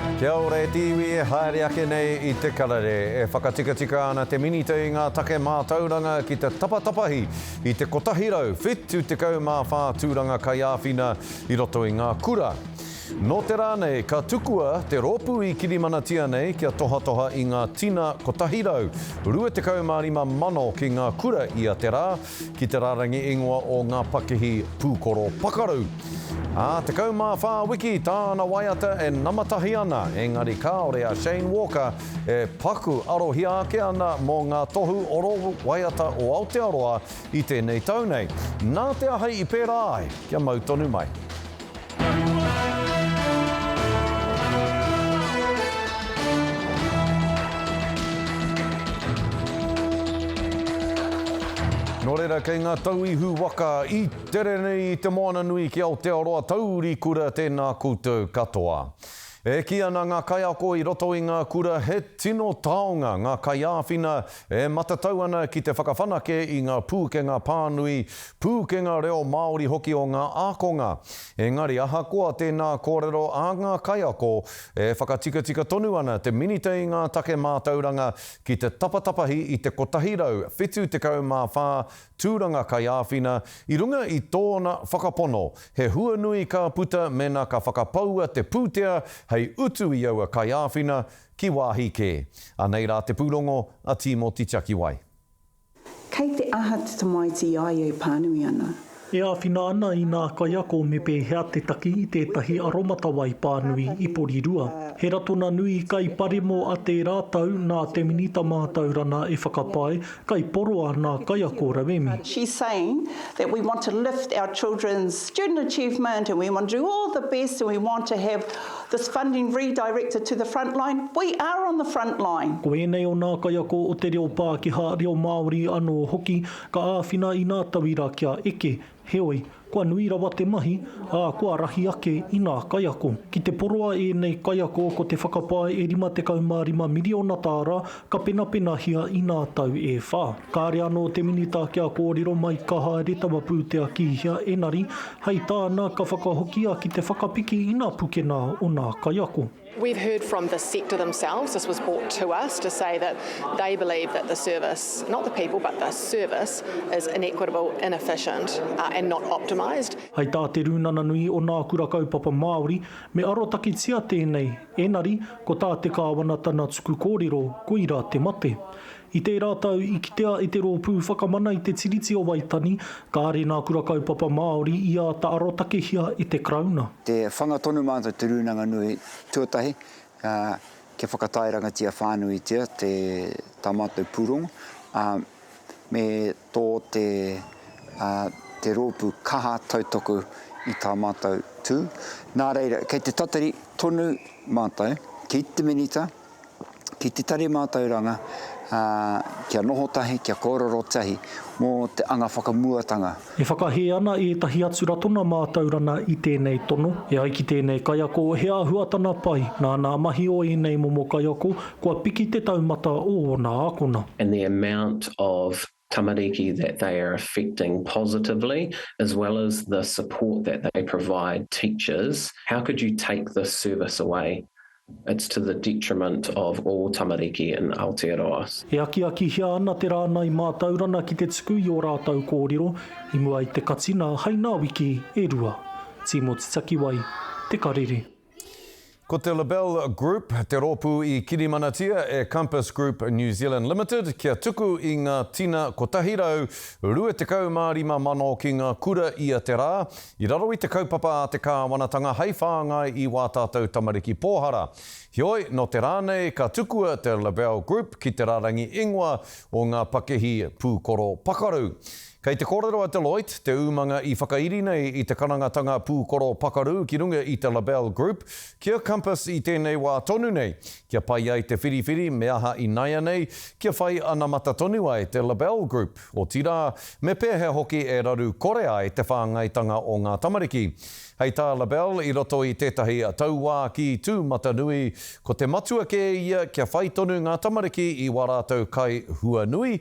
Kia ora e te iwi e haere ake nei i te karere. E whakatikatika ana te Minita i ngā take mātauranga ki te tapatapahi i te 174 tūranga kaiāwhina i roto i ngā kura. Nō te rā nei ka tukua te rōpū i kirimanatia nei kia tohatoha i ngā tina 125 mano ki ngā kura ia te rā, ki te rārangi ingoa o ngā pakihi pūkoro pakaru. Ā, 14 wiki tāna waiata e namatahi ana, engari kāore a Shane Walker e paku arohia ake ana mō ngā tohu oro waiata o Aotearoa i tēnei tau nei. Nā te ahei i pērā ai, kia mau tonu mai. Nō reira, kei ngā tau ihu waka i tere nei i te moana nui ki Aotearoa, taurikura tēnā koutou katoa. E kī ana ngā kaiako i roto i ngā kura he tino taonga ngā kaiāwhina e matatau ana ki te whakawhanake i ngā pūkenga pānui, pūkenga reo Māori hoki o ngā ākonga. Engari ahakoa tēnā kōrero a ngā kaiako, e whakatikatika tonu ana te Minita i ngā take mātauranga ki te tapatapahi i te 174 Tūranga Kaiāwhina, i runga i tōna whakapono, he huanui ka puta mēnā ka whakapaua te pūtea hei utu i aua kaiāwhina ki wāhi kē. Anei rā te pūrongo a Tīmoti Tiakiwai. Kei te aha te tamaiti i a ia e pānui ana? E āwhina ana inā kaiako me pēhea te taki i tētahi aromatawai pānui i Porirua. He ratonga nui kai pare mō a tērā tau nā te Minita Mātauranga e whakapae Kaiporoa nā kaiako rauemi. She's saying that we want to lift our children's student achievement and we want to do all the best and we want to have this funding redirected to the frontline. We are on the frontline. Ko ēnei o nā kaiako o te reo Pākehā, reo Māori anō hoki ka āwhina i nā tauira kia eke Heoi, kua nui rawa te mahi, ā, kua rahi ake i ngā kaiako. Ki te poroa ēnei kaiako ko te whakapae e 55 miriona tāra ka penapenahia i ngā tau e whā. Kāre anō te Minita kia kōrero mai ka haere taua pūtea ki hea engari, hei tāna, ka whakahokia ki te whakapiki i ngā pukena o ngā kaiako. We've heard from the sector themselves, this was brought to us to say that they believe that the service, not the people but the service, is inequitable, inefficient uh, and not optimised. Hai tā Te Rūnana Nui o Nā Kura Kaupapa Māori, me arotaketia tēnei, ēnari, ko tā te Kāwana tana tuku kōrero, koirā te mate. I tērā tau, i kitea e te Rōpū Whakamana i te Tiriti o Waitani, kāre nā Kura Kaupapa Māori i āta arotakehia e te Karauna. Te whanga tonu mātou te Rūnanga Nui tuatahi, ā, kia whakataerangatia whānuitia te, tā mātou pūrongo, ā, me tō te, ā, te rōpū kaha tautoko i tā mātou tū. Nā reira, kei te tatari tonu mātou ki te Minita, Ki te tari mātauranga, ā, kia noho tahi, kia kōrero tahi mō te anga whakamuatanga. E whakahē ana ētahi atu ratona mātaurana i tēnei tono, e ai ki tēnei kaiako, he āhuatana pai nā ngā mahi o ēnei momo kaiako kua piki te taumata o ōna ākona. and the amount of tamariki that they are affecting positively as well as the support that they provide teachers, how could you take this service away? It's to the detriment of all tamariki in Aotearoa. E akiakihia ana te rāngai mātaurana ki te tuku i ō rātou kōrero i mua i te katinga hai ngā wiki e rua. Tīmoti Takiwai, Te Karere. Ko te Lebel Group te rōpū i kirimanatia e Compass Group New Zealand Limited kia tuku i ngā tina 125,000 ki ngā kura ia te rā, i raro i te kaupapa a te kāwanatanga hei whāngai i wā tātou tamariki pōhara. Heoi, nō te rā nei ka tukua te Lebel Group ki te rarangi ingoa o ngā pakihi pūkoro pakaru. Kei te kōrero a Deloitte, te umanga i whakairi nei i te karangatanga pūkoro pakaru ki runga i te Labelle Group, kia Compass i tēnei wā tonu nei, kia pai ai te whiriwhiri me aha inaianei, kia whai anamata tonu ai te Labelle Group, otirā, me pēhea hoki e raru kore ai te whāngaitanga o ngā tamariki. Hei tā Labelle i roto i tētahi tauākī tūmatanui, ko te matua kē ia kia whai tonu ngā tamariki i wā rātou kai huanui,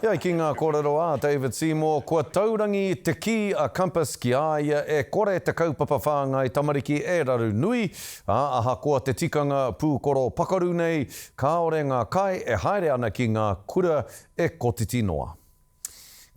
Heoi, ki ngā kōrero a David Seymour, kua taurangi te kī a Compass ki a ia e kore te kaupapa whāngai tamariki e raru nui, ā, ahakoa te tikanga pūkoro pakaru nei, kāore ngā kai e haere ana ki ngā kura e kotiti noa.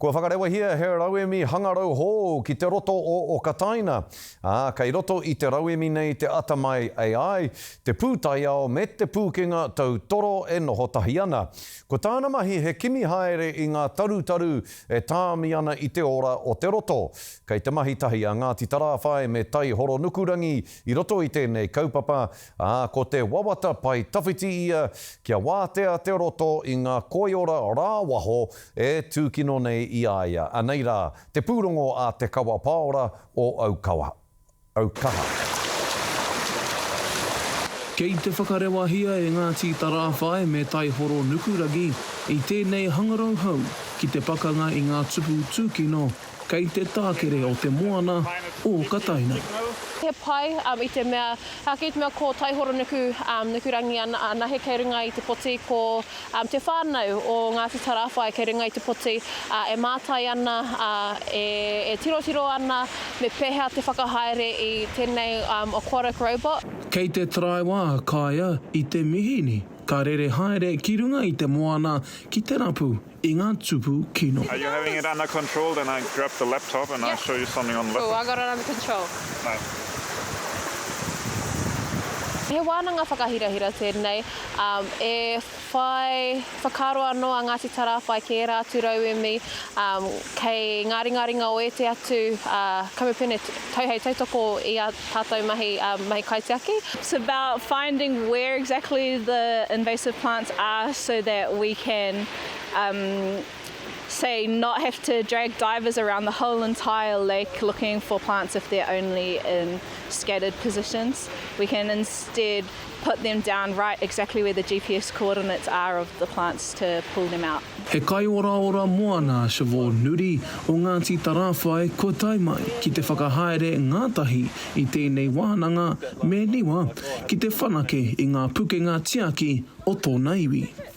Kua whakarewahia he rauemi hangarau hou ki te roto o Okataina, ā, kei roto i te rauemi nei te atamai AI, te pūtaiao me te pūkenga tautoro e noho tahi ana. Ko tāna mahi he kimi haere i ngā tarutaru e tāmi ana i te ora o te roto. Kei te mahi tahi a Ngāti Tarāwhai me Tai Horonukurangi i roto i tēnei kaupapa, ā, ko te wawata pae tawhiti ia kia wātea te roto i ngā koiora rāwaho e tūkino nei i a ia, anei rā, te pūrongo a Te Kawa Paora o Aukawa. au kaha. Kei te whakarewahia e Ngāti Tarāwhai me Taihoro Nukuragi i tēnei hangarau hou ki te pakanga i ngā tupu tūkino kei te tākere o te moana o Kataina. He pai i te mea, ki te mea ko Taihoro Nuku, Nukurangi anahe kei runga i te poti, ko te whānau o Ngāti Tarāwhai kei runga i te poti, ā, e mātai ana, ā, e, e tirotiro ana me pēhea te whakahaere i tēnei um, aquatic robot. Kei te taraiwa a Kaea i te mihini, ka rere haere ki runga i te moana ki te rapu i ngā tupu kino. Are you having it under control then I grab the laptop and I show you something on the laptop. Cool, I got it under control. Nice. He wānanga whakahirahira tēnei. E whai whakaaro anō a Ngāti Tarāwhai ki ērā atu rauemi kei ngā ringaringa o ēti atu kamupene tau hei tautoko i ā tātou mahi kaitiaki. It's about finding where exactly the invasive plants are so that we can say not have to drag divers around the whole entire lake looking for plants if they're only in scattered positions. We can instead Put them down right exactly where the GPS coordinates are of the plants to pull them out. He kaioraora moana a Siobhan Nuri o Ngāti Tarāwhai kua tae mai ki te whakahaere ngātahi i tēnei wānanga me niwa ki te whanake i ngā pukenga tiaki o tōna iwi.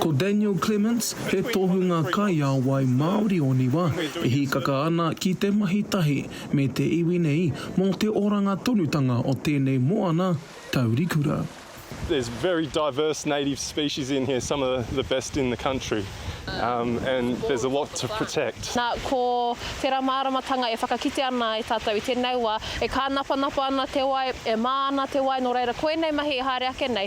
Ko Daniel Clements, he tohunga kaiāwai Māori o Niwa, e hīkaka ana ki te mahi tahi me te iwi nei mō te oranga tonutanga o tēnei moana taurikura. There's very diverse native species in here, some of the best in the country and there's a lot to protect. Nā, ko tērā māramatanga e whakakite ana e tātou i tēnei wā, e kānapanapa ana te wai, e mā ana te wai, nō reira, koinei mahi i haere ake nei.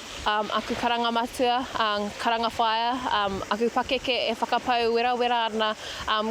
aku karanga matua, karanga whaea, aku pakeke e whakapau werawera ana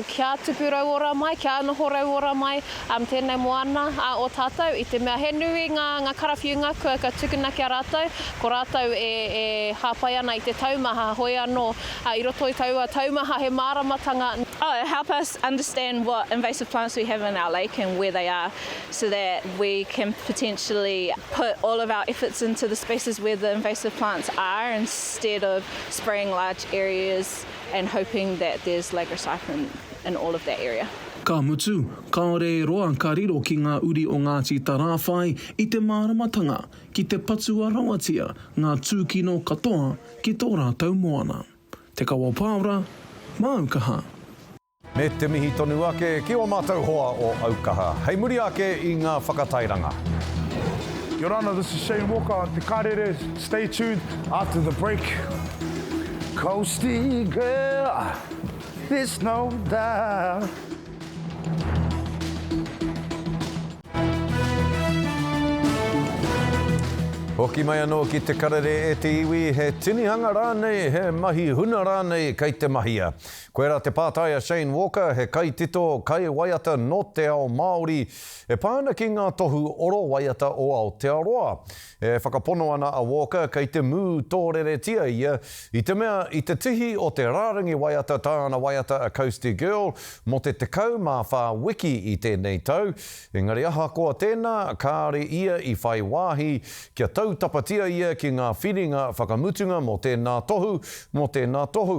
kia tupu rauora mai, kia noho rauora mai tēnei moana o tātou. I te mea he nui ngā karawhiunga kua tukuna ki a rātou, ko rātou e hāpai ana i te taumaha, hoi anō, i roto i taua taumaha he māramatanga. Oh, help us understand what invasive plants we have in our lake and where they are. so that we can potentially put all of our efforts into the spaces where the invasive plants are instead of spraying large areas and hoping that there's lagocyprin in all of that area. Ka mutu, kāore e roa ka riro ki ngā uri o Ngāti Tarāwhai i te māramatanga ki te patua rawatia ngā tūkino katoa ki tō rātou moana. Te Kawapāora, Māu Kaha. Me te mihi tonu ake ki o matou hoa o Aukaha hei muri ake i nga whakatairanga. Your Honour, this is Shane Walker, Te Karere, stay tuned after the break. Coasty girl, there's no doubt. Hoki mai anō ki te karere e te iwi, he tinihanga rānei, he mahi huna rānei kei te mahia. Koirā te pātai a Shane Walker, he kaitito, kaiwaiata nō te ao Māori, e pā ana ki ngā tohu oro waiata o Aotearoa. E whakapono ana a Walker kei te mū tōreretia ia, i te mea i te tihi o te rārangi waiata tāna waiata a Coastie Girl mō te 14 wiki i tēnei tau, engari ahakoa tēnā, kāore ia i whai wāhi kia tautapatia ia ki ngā whiringa whakamutunga mō tēnā tohu, mō tēnā tohu.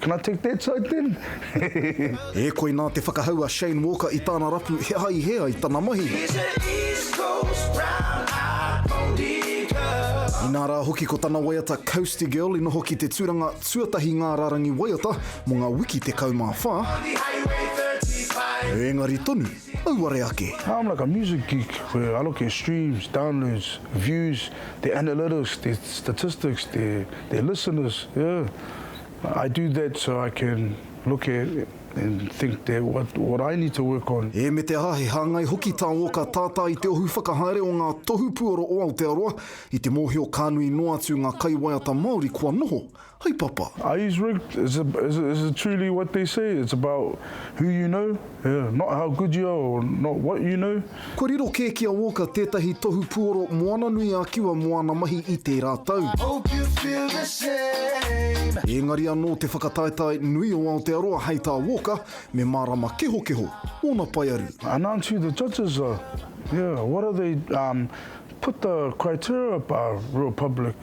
Can I take that side then? E koi nā te whakahau a Shane Walker i tāna rapu he aha i hē ai tana mahi. Inā rā hoki ko tana waiata Coasty Girl i noho ki te tūranga Tuatahi ngā rārangi waiata mō ngā wiki 14, ēngari tonu, auare ake. I'm like a music geek where I look at streams, downloads, views, their analytics, their statistics, their listeners, yeah. I do that so I can look at and think that what what I need to work on. E me te aha, he hāngai hoki tā Walker tātā i te ohu whakahaere o ngā tohu puoro o Aotearoa i te mōhio ka nui noa atu ngā kaiwaiata Māori kua noho hai papa. Are yous rigged? Is it is it is it truly what they say? It's about who you know? Yeah, not how good you are or not what you know. Kua riro kē ki a Walker tētahi tohu puoro Moana-nui-a-Kiwa moana mahi i tērā tau. Ēngari anō te whakataetae nui o Aotearoa hei tā Walker me mārama kehokeho ōna paearu. Announce who the judges are, yeah, what are they, um, put the criteria up, uh, real public.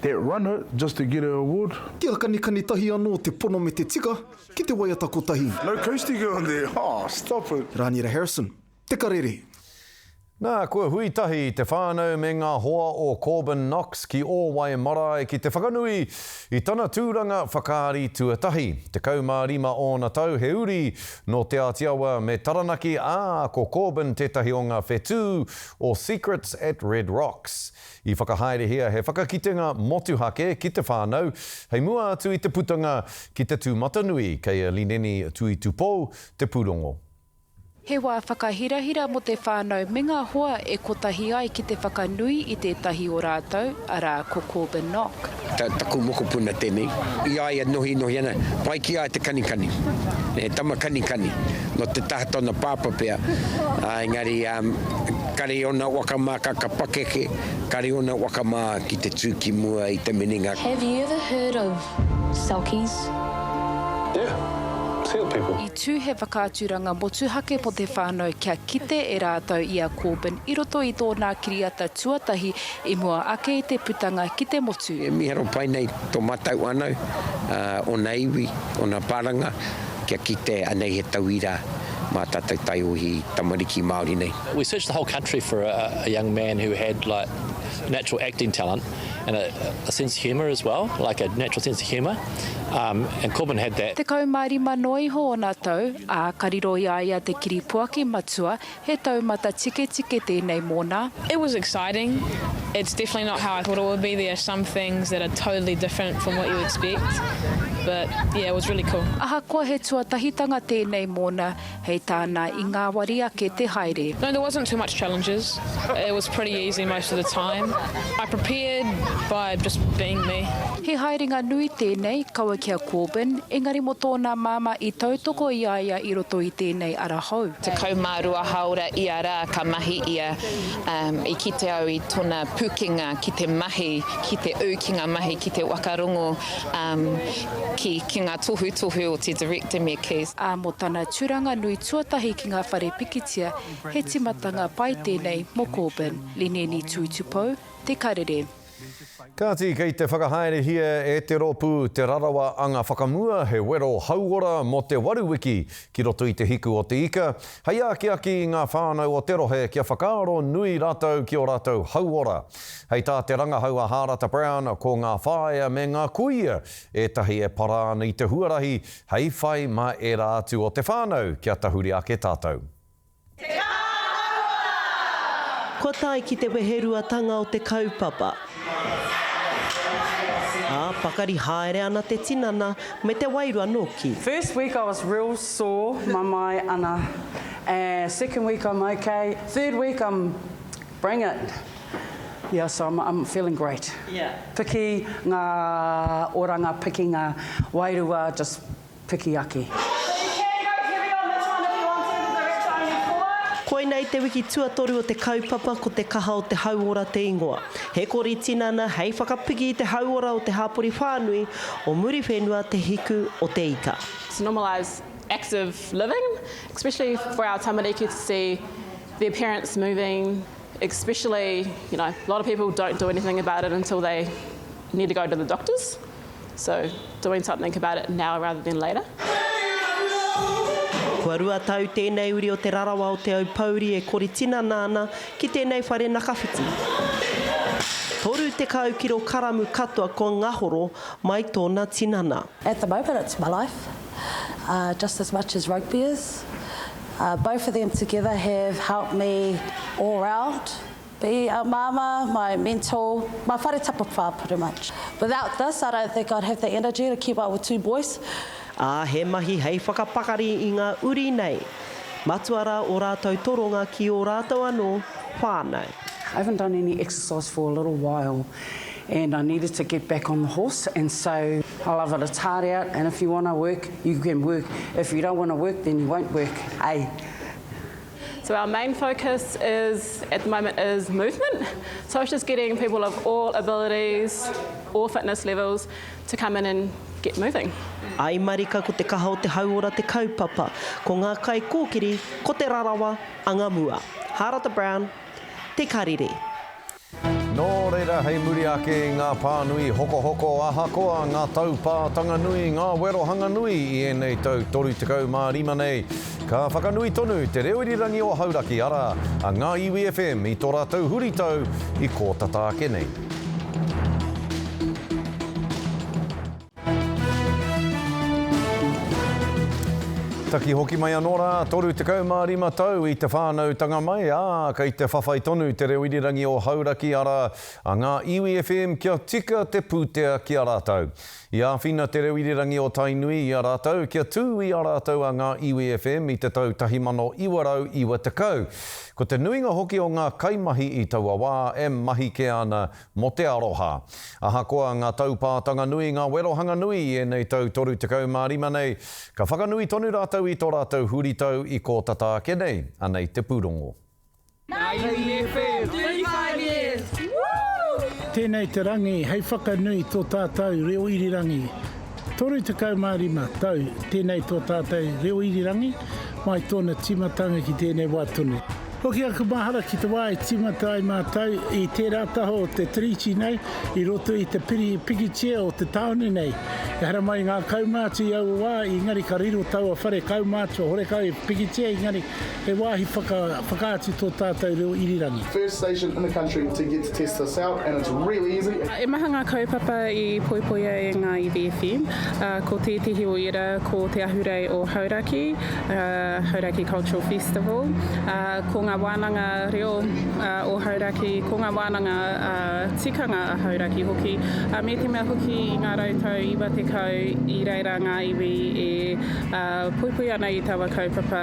That runner just to get a award. Te akanikani tahi anō te pono me te tika ki te waiata kotahi. No coastie girl there, oh stop it. Rānira Harrison, Te Karere. Nā, kua hui tahi te whānau me ngā hoa o Corbin Knox ki Ōwae marae ki te whakanui i tana tūranga whakaari tuatahi. Tekau mā rima ōna tau he uri nō Te Āti Awa me Taranaki, ā, ko Corbin tētahi o ngā whetū o Secrets at Red Rocks. I whakahaerehia he whakakitenga motuhake ki te whānau, hei mua atu i te putanga ki te tūmatanui, kei a Lineni Tuitupou te pūrongo. He wā whakahirahira mō te whānau me ngā hoa e kotahi ai ki te whakanui i tētahi o rātou, arā, ko Corbin Nock. Taku mokopuna tenei, i a ia nohinohi ana, pai ki a ia te kanikani, he tama kanikani, no te taha tona papa pea, engari kare ona waka ma ka ka pakeke, kare ona waka ma ki te tu ki mua i te minenga. Have you ever heard of selkies? Yeah, seal people. I tū he whakaaturanga motuhake mō te whānau kia kite e rātou i a Corbyn i roto i tōnā kiriata tuatahi I mua ake i te putanga ki te motu. E miharo pai nei to matou whanau, ona iwi, ona paranga kia kite anei he tauira ma tatou taiohi tamariki Maori nei. We searched the whole country for a young man who had like natural acting talent and a sense of humour as well, like a natural sense of humour, and Corbin had that. Tekau ma rima noa iho ona tau, a ka riro i a ia te kiripuaki matua He taumata tiketike tēnei mōna. It was exciting, it's definitely not how I thought it would be, there are some things that are totally different from what you expect, but yeah it was really cool. Ahakoa he tuatahitanga tēnei mōna, hei tāna i ngāwari ake te haere. No, there wasn't too much challenges, it was pretty easy most of the time, I prepared by just being me. He haerenga nui tēnei, kaua ki a Corbyn, engari mō tōna māmā i tautoko i a ia i roto i tēnei ara hou. 12 hāora ia rā ka mahi ia, ā, i kite au i tona pukenga ki te mahi, ki te ū ki ngā mahi ki te waka rongo, ā, ki, ki ngā tohutohu o te Director me Kees. Ā, mō tana turanga nui tuatahi ki ngā whare pikitia, he timatanga pai tēnei mō Corbyn. Lineni Tūtupou, Te Karere. Kāti, kei te whakahaerehia e te rōpū Te Rarawa Anga Whakamua he wero hauora mō te waru wiki ki roto i te hiku o te ika, hei akiaki i ngā whānau o te rohe kia whakaaro nui rātou ki ō rātou hauora. Hei tā te rangahau a Hārata Brown, ko ngā whāea me ngā kuia ētahi e para ana i te huarahi hei whai mā ērā atu o te whānau kia tahuri ake tātou. Te Kāwanatanga! Kua tae ki te weheruatanga o te kaupapa. Ā, pakari haere ana te tinana me te wairua nōki. First week I was real sore mamae ana and second week I'm ok third week I'm bring it yeah so I'm I'm feeling great piki nga oranga piki nga wairua just piki ake. Koinei te wiki tuatoru o te kaupapa Ko te kaha o te hauora te ingoa. He kori tinana hei whakapiki i te hauora o te hapori whānui o Muriwhenua te hiku o te ika. to normalise active living, especially for our tamariki to see their parents moving, especially you know a lot of people don't do anything about it until they need to go to the doctors. So, doing something about it now rather than later. Kua rua tau tēnei uri o Te Rarawa o Te Aupōuri e kori tinana ana ki tēnei whare nakawhiti. 30 kiro karamu katoa kua ngahoro mai tōna tinana. At the moment it's my life, uh, just as much as rugby is. Uh, both of them together have helped me all round. Be a Mama my mentor, my whare tapawhā pretty much. Without this I don't think I'd have the energy to keep up with two boys. Ā, he mahi hei whakapakari i ngā uri nei. Matua rā ō rātou toronga ki ō rātou anō whānau. I haven't done any exercise for a little while and I needed to get back on the horse and so I love it, it's hard out and if you want to work you can work, if you don't want to work then you won't work, eh? So our main focus is at the moment is movement. So it's just getting people of all abilities, all fitness levels to come in and get moving. Ai marika ko te kaha o te hauora te kaupapa, ko ngā kaikōkiri ko te rarawa angamua. Harata Brown, Te Karere. Nō reira, hei muri ake i ngā pānui hokohoko, ahakoa ngā taupātanga nui, ngā wero hanga nui i ēnei tau 35 nei, ka whakanui tonu Te Reo Irirangi o Hauraki, arā, a Ngā Iwi FM i tō rātou huritau i kō tata ake nei. Taki hoki mai anō rā, 35 tau i te whānautanga mai, ā, kei te whawhai tonu te reo irirangi o Hauraki, arā, a Ngā Iwi FM kia tika te pūtea ki a rātou. I āwhina te reo irirangi o Tainui i a rātou kia tū i a rātou a Ngā Iwi FM i te tau 1990. Ko te nuinga hoki o ngā kaimahi i taua wā e mahi kē ana Mō te aroha. Ahakoa ngā taupātanga nui, ngā werohanga nui i ēnei tau 35 nei, ka whakanui tonu rātou i tō rātou huritau i kō tata ake nei, anei te pūrongo. Tēnei te rangi hei whakanui i tō tātou reo irirangi. 35 tau tēnei tō tātou reo irirangi mai tōna tīmatanga ki tēnei wā tonu. Hoki aku mahara ki te wā e tīmata ai mātou i tērā taha o te Tiriti nei i roto i te piri pikitia o te tāone nei. Ehara mai ngā kaumātua i aua wā, engari ka riro taua whare kaumātua horekau e pikitia engari He wāhi whaka, whakaatu tō tātou reo irirangi. First station in the country to get to test this out and it's really easy. He maha ngā kaupapa i poipoia e ngā iwi FM, ā, ko tētehi o ērā ko Te Ahurei o Hauraki, Hauraki Cultural Festival, ā, ko ngā wānanga reo o Hauraki, ko ngā wānanga tikanga a Hauraki hoki, ā, me te mea hoki i ngā rautau iwa tekau i reira ngā iwi e poipoi ana i taua kaupapa.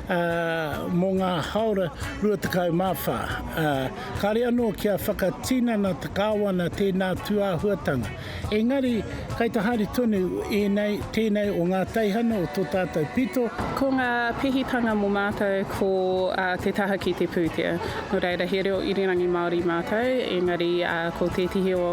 ā, mō ngā hāora 24, ā, kāre anō kia whakatinana te Kāwana tēnā tūāhuatanga. Engari, kai te haere tonu ēnei, tēnei o ngā teihana o tō tātou pito. Ko ngā pihitanga mō mātou ko te taha ki te pūtea. Nō reira, he reo irirangi Māori mātou, engari, ā, ko tētehi o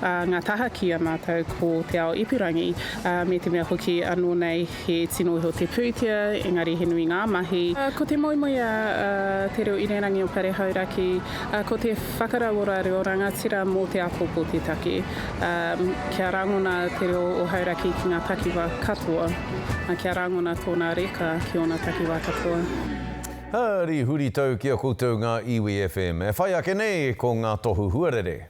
ngā taha ki a mātou ko te ao ipurangi, ā, me te mea hoki anō nei, He tino iho te pūtea, engari he nui ngā mahi. Ko te moemoeā a Te Reo Irirangi o Pare Hauraki, ko te whakarauora reo rangatira mō te āpōpō te take, kia rangona te reo o Hauraki ki ngā takiwā katoa, kia rangona tōna reka ki ōna takiwā katoa. Hari huritau ki a koutou ngā iwi FM. E whai ake nei ko ngā tohu huarere.